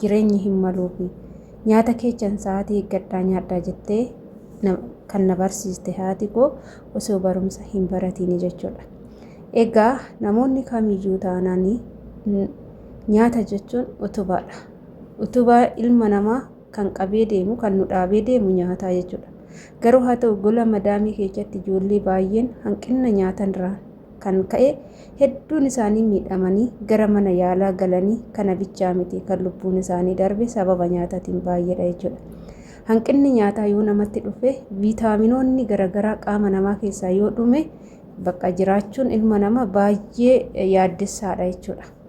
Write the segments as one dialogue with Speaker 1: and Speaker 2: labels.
Speaker 1: jireenyi hin maluufi. Nyaata keechan sa'aatii eeggadhaa nyaadhaa jettee kan na barsiiste haati koo osoo barumsa hin baratiini jechuudha. Egaa namoonni kamiyyuu taanaan nyaata jechuun utubaadha. Utubaa ilma namaa kan qabee deemu kan nu dhaabee deemu nyaataa jechuudha. Garuu haa ta'u gola madaamii keessatti ijoollee baay'een hanqina nyaatanirraa kan ka'e hedduun isaanii miidhamanii gara mana yaalaa galanii kana bichaa miti kan lubbuun isaanii darbe sababa nyaataatiin baay'eedha jechuudha. Hanqinni nyaataa yoo namatti dhufe viitaaminoonni garaagaraa qaama namaa keessaa yoo dhume bakka jiraachuun ilma namaa baay'ee yaaddessaadha jechuudha.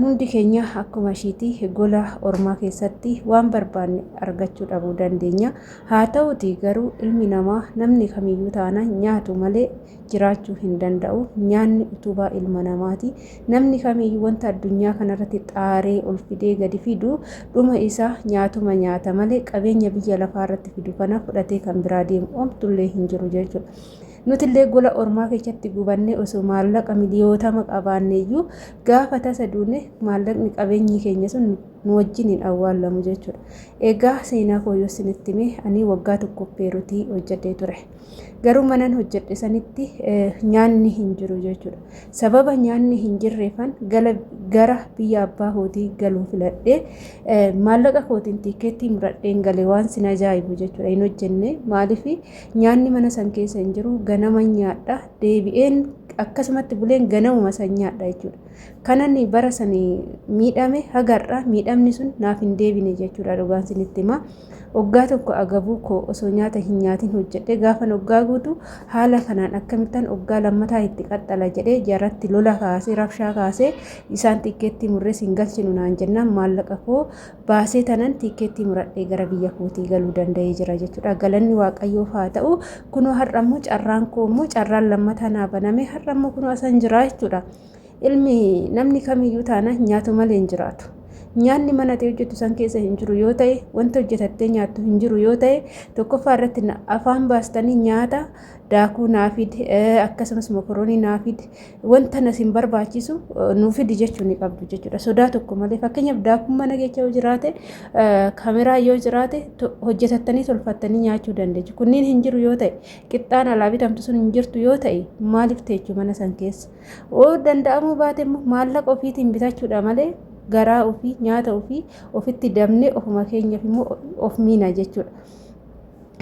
Speaker 1: Hundi keenya akkuma ishiiti gola ormaa keessatti waan barbaanne argachuu dhabuu dandeenya. Haa ta'uti garuu ilmi namaa namni kamiyyuu taana nyaatu malee jiraachuu hin danda'u. Nyaanni utubaa ilma namaati. Namni kamiyyuu wanta addunyaa kanarratti xaaree ol fidee gadi fidu dhuma isaa nyaatuma nyaata malee qabeenya biyya lafaa irratti fidu kana fudhatee kan biraa deemu omtullee hin jiru jechuudha. Nutillee gola ormaa keessatti gubannee osoo maallaqa miliyootama qabaanneeyyuu gaafa tasa duune maallaqni qabeenyi keenya sun nu wajjin hin awwaallamu jechuudha. Egaa seenaa koo yoo isinitti hime ani waggaa tokko Peerutii hojjedhee ture. Garuu manan hojjedhe sanitti nyaanni hin jiru jechuudha. Sababa nyaanni hin jirreefan gara biyya abbaa kootii galuu filadhee maallaqa kootiin tiikeettii muradheen gale waan sin ajaa'ibu jechuudha. Hin hojjenne maaliif Nyaanni mana san keessa hin jiru ganaman nyaadha deebi'een akkasumatti buleen ganamuma san nyaadha jechuudha. Kanan bara san miidhame hagarra miidhamni sun naaf hin deebine jechuudha dhugaan sinitti hima. Oggaa tokko agabuu koo osoo nyaata hin nyaatin hojjedhe gaafan oggaa guutu haala kanaan akkamittan oggaa lammataa itti qaxxala jedhee jaratti lola kaasee rabshaa kaasee isaan xiqqeetti murrees hin galchinu naan jennaan maallaqa koo baasee tanan tiikkeettii muradhee gara biyya kootii galuu danda'ee jira jechuudha. Galanni Waaqayyoof haa ta'u kunoo har'a immoo carraan koo immoo carraan lammataa naa baname har'a immoo kunoo asan jira jechuudha. Ilmi namni kamiyyuu taana nyaatu malee hin jiraatu. Nyaanni mana ta'e hojjetu san keessa hin jiru yoo ta'e wanta hojjetattee nyaattu hin jiru yoo ta'e tokkoffaa irratti afaan baastanii nyaata daakuu naafid akkasumas mokoroonii naafid wanta na sin barbaachisu nuu fidi jechuu ni qabdu jechuudha. Sodaa tokko malee fakkeenyaaf daakuun mana keessa yoo jiraate kaameraa yoo jiraate hojjetattanii tolfattanii nyaachuu dandeechu. Kunniin hin jiru yoo ta'e qixxaan alaa bitamtu sun hin jirtu yoo ta'e maaliif teechu mana san keessa. Oo danda'amuu baate immoo maallaqa ofiitiin bitachuudha malee garaa ofii nyaata ofii ofitti dabnee ofuma keenyaaf immoo of miina jechuudha.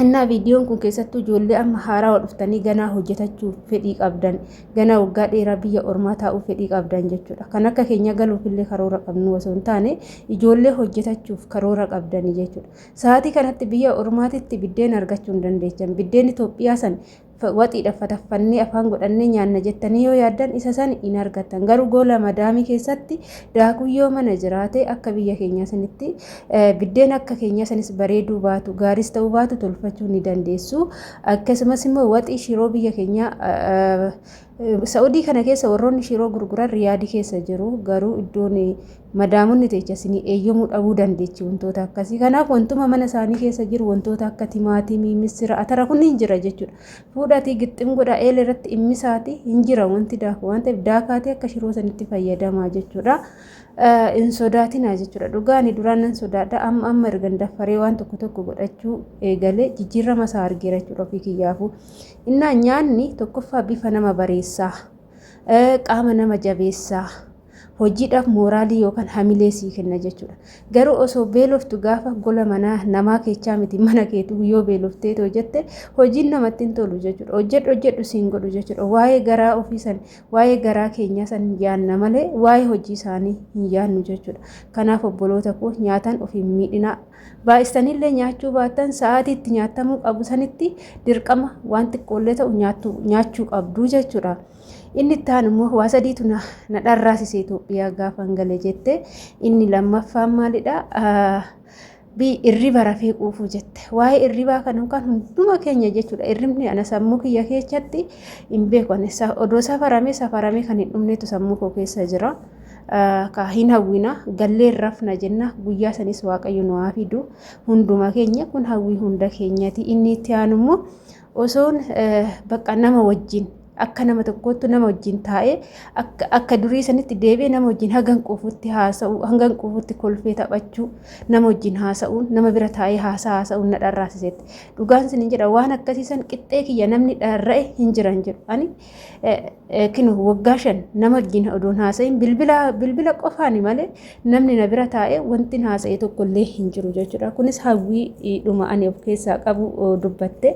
Speaker 1: Innaa viidiyoon kun keessattuu ijoollee amma haarawa dhuftanii ganaa hojjetachuuf fedhii qabdan, ganaa waggaa dheeraa biyya ormaa taa'uu fedhii qabdan jechuudha. Kan akka keenya galuufillee karoora qabnu osoo hin taane ijoollee hojjetachuuf karoora qabdanii jechuudha. Sa'aatii kanatti biyya ormaatitti biddeen argachuu hin dandeechan. Biddeen Itoophiyaa san waxiidha fataffannee afaan godhannee nyaanna jettanii yoo yaaddan isa san hin argattan garuu goola madaamii keessatti daakuu yoo mana jiraate akka biyya keenyaa sanitti biddeen akka keenyaa sanis bareeduu baatu gaaris ta'uu baatu tolfachuu ni dandeessu akkasumas immoo waxii shiroo biyya keenyaa Sa'udii kana keessa warroonni shiroo gurguran riyaadi keessa jiru garuu iddoon madaamonni teecha isinii eeyyamuu dhabuu dandeechi wantoota akkasii kanaaf wantuma mana isaanii keessa jiru wantoota akka timaatimii misira atara kun hin jira jechuudha fuudhaatii gixxim godha eela irratti immisaati hin jira wanti daaku waan ta'eef daakaatii akka shiroo sanitti fayyadamaa jechuudha hin sodaatinaa jechuudha dhugaani duraan nan sodaadha amma amma ergan daffaree waan tokko tokko godhachuu eegalee jijjiirrama isaa argeera jechuudha ofii kiyyaafuu Innaa nyaanni tokkoffaa bifa nama bareessaa, qaama nama jabeessaa, hojiidhaaf mooraalii yookaan hamilee sii kenna jechuudha. Garuu osoo beeloftu gaafa gola manaa namaa keechaa miti mana keetu yoo beeloftee too jette hojiin namatti hin tolu jechuudha. Hojjedhu hojjedhu siin godhu jechuudha. Waa'ee garaa ofii san waa'ee garaa keenyaa san yaanna malee waa'ee hojii isaanii hin yaannu jechuudha. Kanaaf obboloota koo nyaataan ofiin miidhinaa Baay'istanillee nyaachuu baattan sa'aatii itti nyaattamuu qabu sanitti dirqama waan xiqqoollee ta'u nyaachuu qabdu jechuudha. Inni itti aanu immoo waa sadiitu na dharraasise Itoophiyaa gaafa gale jette. Inni lammaffaan maalidha? Irriba rafee quufuu jette. Waa'ee irribaa kana kan hunduma keenya jechuudha. Irribni ana sammuu kiyya keessatti hin beeku. Odoo safaramee safaramee kan hin dhumnetu sammuu koo keessa jira. ka hin hawwina galleen rafna jenna guyyaa sanis waaqayyo nu haa fidu hunduma keenya kun hawwii hunda keenyati inni itti aanu immoo osoon bakka nama wajjin akka nama tokkoottu nama wajjin taa'ee akka durii sanitti deebi'ee nama wajjin hangan quufutti haasa'u hangan quufutti kolfee taphachuu nama wajjin haasa'uun nama bira taa'ee haasaa haasa'uun na dharraasisetti dhugaan sin hin jedha waan akkasiisan qixxee kiyya namni dharra'e hin jiran jedhu ani Kino waggaa shan nama wajjin odoon haasa'in bilbila bilbila qofaani malee namni na bira taa'ee wanti haasa'e tokko illee hin jiru jechuudha. Kunis hawwii dhuma ani of keessaa qabu dubbatte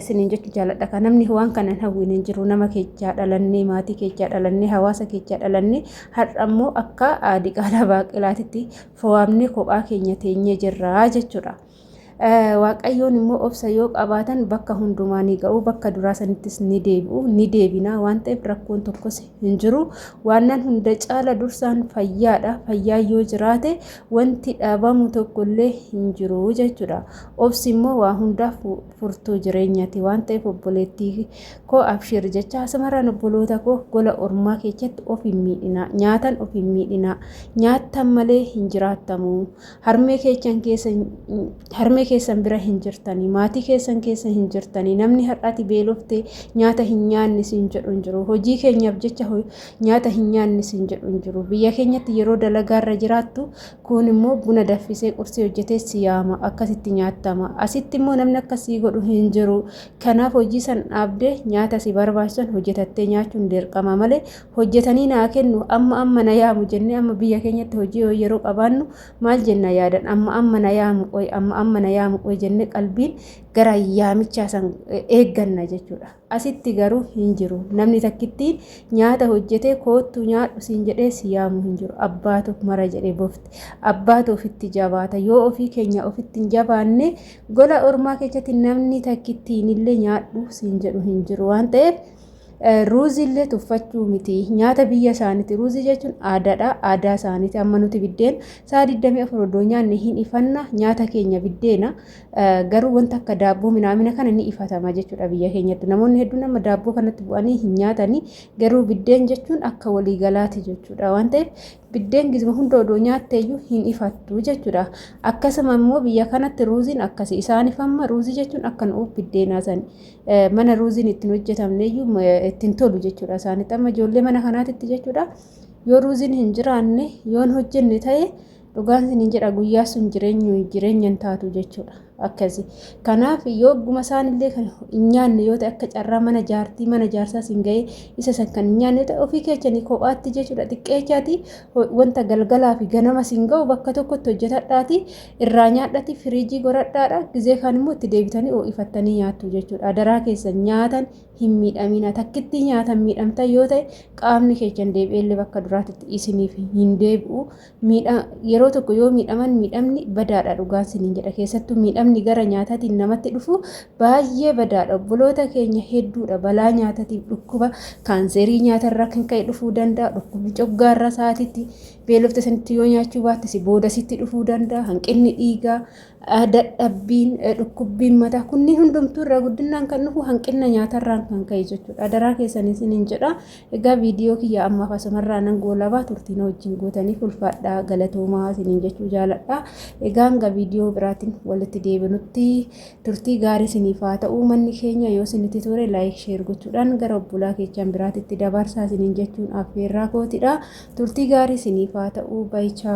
Speaker 1: sinin jechuun jaaladha. Kan namni waan kanan hawwiin hin jiru nama keechaa dhalannee maatii keechaa dhalannee hawaasa keechaa dhalannee har'a immoo akka diqaalaa baaqelaatitti fo'amnee kophaa keenya teenyee jirra jechuudha. Waaqayyoon immoo obsa yoo qabaatan bakka hundumaa ni ga'u bakka duraa sanittis ni deebi'u ni deebinaa waan ta'eef rakkoon tokkos hin jiru waannan hunda caala dursaan fayyaadha fayyaa yoo jiraate wanti dhabamu tokkollee hin jiru jechuudha obsi immoo waa hundaaf furtuu jireenyati waan ta'eef obboleettii koo abshiir jecha asumarraan obboloota koo gola ormaa keessatti of hin miidhinaa nyaatan of hin miidhinaa nyaattan malee hin jiraattamu harmee keessan keessa harmee keessan bira hin jirtanii maatii keessan keessa hin jirtanii namni har'aati beelofte nyaata hin nyaanne siin jedhu hin jiru hojii keenyaaf jecha nyaata hin nyaanne siin jedhu hin jiru biyya keenyatti yeroo dalagaarra jiraattu kun immoo buna daffisee qursii hojjetee si yaama akkasitti nyaattama asitti immoo namni akkasii godhu hin jiru kanaaf hojii san dhaabdee nyaata si barbaachisan hojjetattee nyaachuun dirqama malee hojjetanii naa kennu amma amma na yaamu jennee amma biyya keenyatti hojii yoo yeroo qabaannu maal jenna yaadan amma amma na yaamu qoy amma amma na yaamu qoy jennee qalbiin gara yaamichaa san eegganna jechuudha. Asitti garuu hin jiru namni takkittiin nyaata hojjetee koottu nyaadhu siin jedhee si yaamu hin jiru abbaatu mara jedhee bofti abbaatu ofitti jabaata yoo ofii keenya ofitti hin jabaanne gola ormaa keessatti namni takkittiin illee nyaadhu siin jedhu hin jiru waan ta'eef. Ruuzii illee tuffachuu miti. Nyaata biyya isaaniiti. Ruuzii jechuun aadaadha. Aadaa isaaniiti. Amma nuti biddeen sa'a 24 iddoo nyaanne hin ifanna. Nyaata keenya biddeena. Garuu wanta akka daabboo minaamina kana ni ifatama jechuudha biyya keenyatti. Namoonni hedduun amma daabboo kanatti bu'anii hin nyaatani. Garuu biddeen jechuun akka waliigalaati jechuudha. Waan ta'eef biddeen gizma hunda odoo nyaatteeyyuu hin ifattu jechuudha. Akkasuma immoo biyya kanatti ruuziin akkasi. Isaaniif amma ruuzii jechuun akka nu'uuf biddeenaa sani. mana ruuziin ittiin hojjetamneyyuu ittiin tolu jechuudha isaanitti amma ijoollee mana kanaatitti jechuudha yoo ruuziin hin jiraanne yoon hojjenne ta'e dhugaan isiniin jedha guyyaa sun jireenyu jireenya hin taatu jechuudha akkasi kanaaf yoo guma isaanillee kan hin nyaanne yoo ta'e akka carraa mana jaartii mana jaarsaa siin ga'ee isa san kan hin nyaanne ta'e ofii keechanii kophaatti jechuudha xiqqeechaati wanta galgalaa fi ganama siin ga'u bakka tokkotti hojjetadhaati Irraa nyaadhati firiijii goradhaadha gizee kaan immoo itti deebitanii oo'ifattanii nyaattu jechuudha. Adaraa keessa nyaatan hin miidhamina. Takkitti nyaatan miidhamtan yoo ta'e qaamni keessan deebi'eellee bakka duraatitti isiniif hin deebi'u. Yeroo tokko yoo miidhaman miidhamni badaadha dhugaan siniin jedha. Keessattuu miidhamni gara nyaataatiin namatti dhufu baay'ee badaadha. Obboloota keenya hedduudha balaa nyaatatiif dhukkuba kaanseerii nyaatarraa kan ka'e dhufuu danda'a. Dhukkubni coggaarraa sa'aatiitti Beelofte sanitti yoo nyaachuu baatte si booda sitti dhufuu danda'a. Hanqinni dhiigaa, dadhabbiin, dhukkubbiin mataa kunniin hundumtuu irraa guddinaan kan dhufu hanqina nyaatarraan kan ka'e jechuudha. Adaraa keessan isiniin jedha. Egaa viidiyoo kiyya ammaaf asumarraa nan goolabaa turtiin wajjin gootanii ulfaadhaa galatoomaa isiniin jechuu jaaladha. Egaa hanga viidiyoo biraatiin walitti deebinutti Turtii gaarii siniif haa ta'uu manni keenya yoo sinitti tore like share gochuudhaan gara obbolaa keechaan biraatitti dabarsaa sinin jechuun affeerraa kootidha. Turtii gaarii siniif haa ta'uu baichaa.